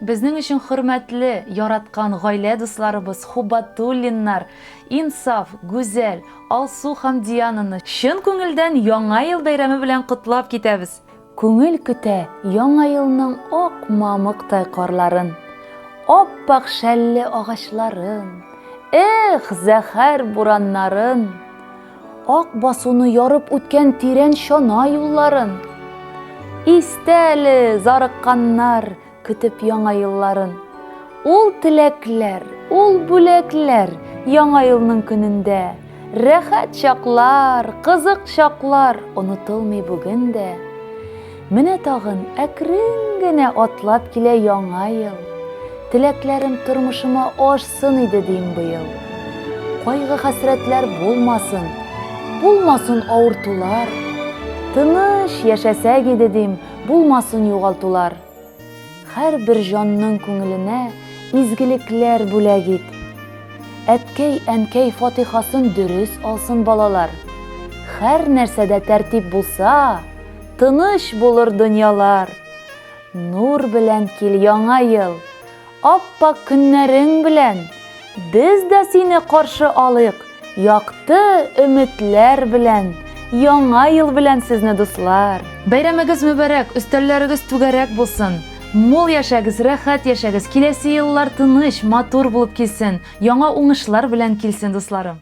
Безнең өчен хөрмәтле, яраткан гаилә дусларыбыз Хубатуллиннар, Инсаф, Гүзәл, Алсу һәм Диананы чын күңелдән Яңа ел бәйрәме белән котлап китәбез! Күңел көтә Яңа елның ак мамыктай карларын, ап-ак шәлле агачларын, эх, зәһәр бураннарын! Ак басуны ярып үткән тирән чана юлларын. Истә әле зарыкканнар көтеп яңа елларын. Ул теләкләр, ул бүләкләр яңа елның көнендә. Рәхәт чаклар, кызык чаклар онытылмый бүген дә. Менә тагын әкрен генә атлап килә яңа ел. Теләкләрем тормышыма ашсын иде дим быел. Кайгы-хәсрәтләр булмасын, булмасын авыртулар. Тыныч яшәсәк иде дим, булмасын югалтулар. Һәрбер җанның күңеленә изгелекләр бүләк ит. Әткәй-әнкәй фатихасын дөрес алсын балалар. Хәр нәрсәдә тәртип булса, тыныч булыр дөньялар. Нур белән кил яңа ел! Ап-пак көннәрең белән! Без дә сине каршы алыйк якты өметләр белән! Яңа ел белән сезне, дуслар! Бәйрәмегез мөбарәк, өстәлләрегез түгәрәк булсын! Мул яшәгез, рәхәт яшәгез, киләсе еллар тыныч, матур булып килсен, яңа уңышлар белән килсен, дусларым!